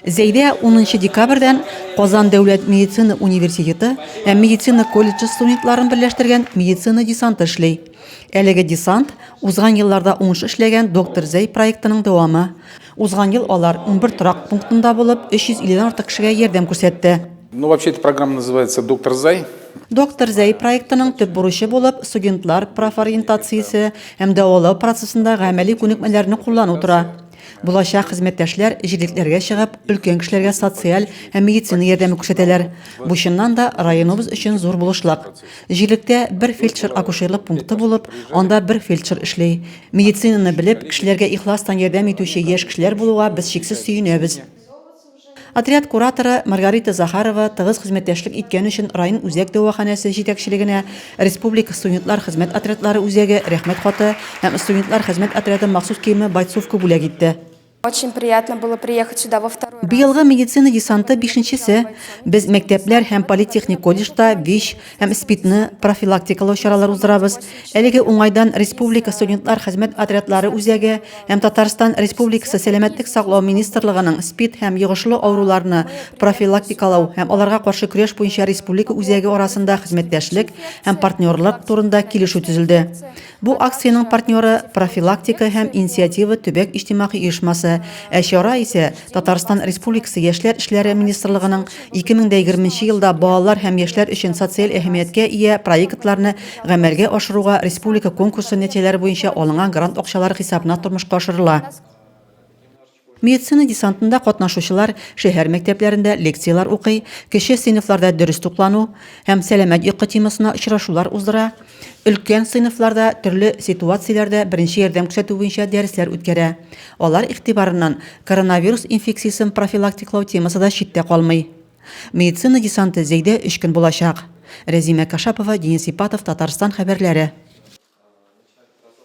Зәйдә унынчы декабрьдән Казан дәүләт медицина университеты һәм медицина колледжы студентларын берләштергән медицина десанты эшли. Әлеге десант, узган елларда уңыш эшләгән Доктор Зәй проектының дәвамы. Узган ел алар 11 торак пунктында булып, 350 дән артык кешегә ярдәм күрсәтте. Ну, вообще, эта программа называется «Доктор Зай». Доктор Зәй проектының төп бурычы булып студентлар профориентациясе һәм дәвалау процессындагы гамәли күнекмәләрне куллану тора. Булачак хезмәттәшләр җилекләргә чыгып, өлкән кешеләргә социаль һәм медицина ярдәме күрсәтәләр. Бу чыннан да районыбыз өчен зур булышлык. Җилектә бер фельдшер-акушерлык пункты булып, анда бер фельдшер эшли. Медицинаны белеп, кешеләргә ихластан ярдәм итүче яшь кешеләр булуга без чиксез сөенәбез. Отряд кураторы Маргарита Захарова тыгыз хезмәттәшлек иткән өчен район үзәк дәваханәсе җитәкчелегенә, республика студентлар хезмәт отрядлары үзәге Рәхмәт хаты һәм студентлар хезмәт отряды махсус киеме Бойцовка бүләк итте. Очень приятно было приехать сюда во второй раз. Быелгы медицина десанты бишенчесе. Без мәктәпләр һәм политехник колледжда ВИЧ, һәм СПИДны профилактикалау чаралары уздырабыз. Әлеге уңайдан республика студентлар хезмәт отрядлары үзәге һәм Татарстан Республикасы Сәламәтлек саклау министрлыгының СПИД һәм йогышлы авыруларны профилактикалау һәм аларга каршы көрәш буенча республика үзәге арасында хезмәттәшлек һәм партнерлык турында килешү төзелде. Бу акциянең партнеры, Профилактика һәм инициатива төбәк иҗтимагый оешмасы, ә чара исә Татарстан Республикасы Яшьләр эшләре министрлыгының 2020 нче елда балалар һәм яшьләр өчен социаль әһәмияткә ия проектларны гамәлгә ашыруга республика конкурсы нәтиҗәләре буенча алынган грант акчалары хисабына тормышка ашырыла. Медицина десантында катнашучылар шәһәр мәктәпләрендә лекцияләр укый, кече сыйныфларда дөрес туклану һәм сәламәт йокы темасына очрашулар уздыра, өлкән сыйныфларда төрле ситуацияләрдә беренче ярдәм күрсәтү буенча дәресләр үткәрә. Алар игътибарыннан коронавирус инфекциясен профилактиклау темасы да читтә калмый. Медицина десанты Зәйдә өч көн булачак. Рәзимә Кашапова, Денис Ипатов, Татарстан хәбәрләре.